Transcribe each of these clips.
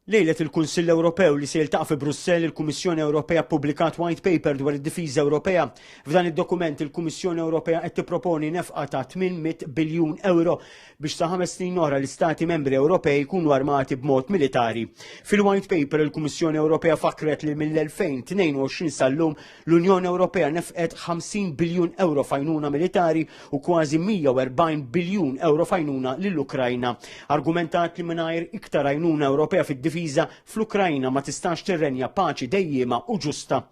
Lejlet il-Kunsill Ewropew li se jiltaqa' fi Brussell, il-Kummissjoni Ewropea ppubblikat White Paper dwar id-Difiża Ewropea. F'dan id-dokument, il-Kummissjoni Ewropea qed tipproponi nefqa ta' 800 biljun ewro biex sa ħames snin oħra l-Istati Membri Ewropej jkunu armati b'mod militari. Fil-White Paper, il-Kummissjoni Ewropea fakkret li mill-2022 sal-lum L-Unjoni Ewropea nefqet 50 biljun euro fajnuna militari u kważi 140 biljun euro fajnuna lill-Ukrajna. Argumentat li mingħajr iktar għajnuna Ewropea fid-difiża fl-Ukrajna ma tistax tirrenja paċi dejjiema u ġusta.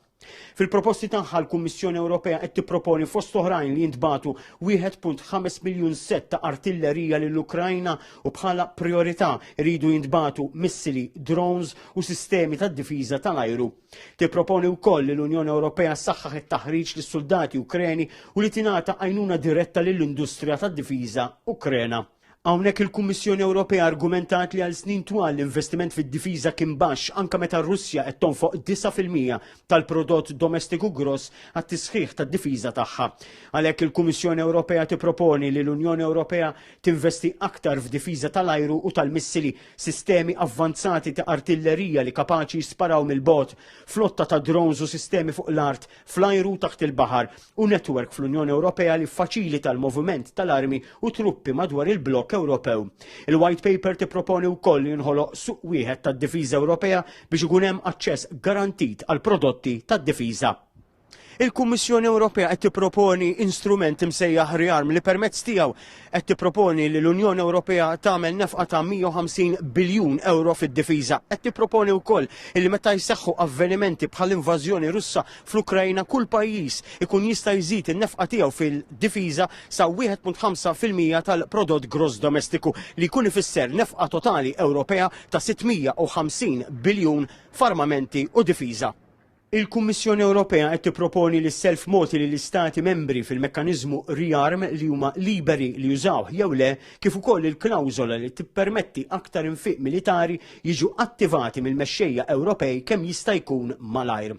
Fil-proposti tagħha l-Kummissjoni Ewropea qed tipproponi fost oħrajn li jintbagħtu 1.5 miljun sett ta' artillerija lill-Ukrajna u bħala priorità jridu jintbagħtu missili, drones u sistemi tad-difiża tal-ajru. Tipproponi wkoll li l-Unjoni Ewropea ssaħħaħ it-taħriġ lis suldati Ukreni u li tingħata għajnuna diretta lill-industrija tad-difiża Ukrena. Hawnhekk il-Kummissjoni Ewropea argumentat li għal snin twal l-investiment fid-difiża kien baxx anke meta r-Russja qed tonfoq 9% tal-prodott domestiku gross għat-tisħiħ tad-difiża tagħha. Għalhekk il-Kummissjoni Ewropea tipproponi li l-Unjoni Ewropea tinvesti aktar f'difiża tal-ajru u tal-missili sistemi avvanzati ta' artillerija li kapaċi jisparaw mill-bogħod, flotta ta' drones u sistemi fuq l-art, fl-ajru u taħt il-baħar, u netwerk fl-Unjoni Ewropea li jiffaċilita l-moviment tal-armi u truppi madwar il-blokk Ewropew. Il-White Paper tipproponi wkoll li jinħoloq suq wieħed tad-difiża Ewropea biex ikun hemm aċċess garantit għall-prodotti tad-difiża. Il-Kummissjoni Ewropea qed tipproponi instrument imsejjaħ ReArm li permezz tiegħu qed tipproponi li l-Unjoni Ewropea tagħmel nefqa ta' 150 biljun euro fid-difiża. Qed tipproponi wkoll li meta jseħħu avvenimenti bħal invażjoni Russa fl-Ukrajna kull pajjiż ikun jista' jżid in-nefqa tiegħu fil-difiża sa 1.5 fil-mija tal-prodott gross domestiku li jkun ifisser nefqa totali Ewropea ta' 650 biljun f'armamenti u difiża. Il-Kummissjoni Ewropea qed tipproponi li s-self mogħti lill-Istati Membri fil-mekkaniżmu ReArm li huma liberi li jużawh jew le, kif ukoll il-klawżola li tippermetti aktar infiq militari jiġu attivati mill-mexxejja Ewropej kemm jista' jkun malajr.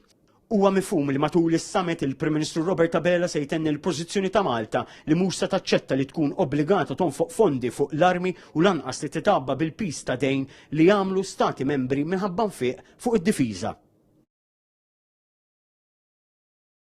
Huwa mifhum li matul is-summit il-Prim Ministru Robert Abela se jtenni l-pożizzjoni ta' Malta li mhux se taċċetta li tkun obbligata tonfoq fondi fuq l-armi u lanqas li titgħabba bil-piż ta' dejn li għamlu Stati Membri minħabba nfiq fuq id-difiża.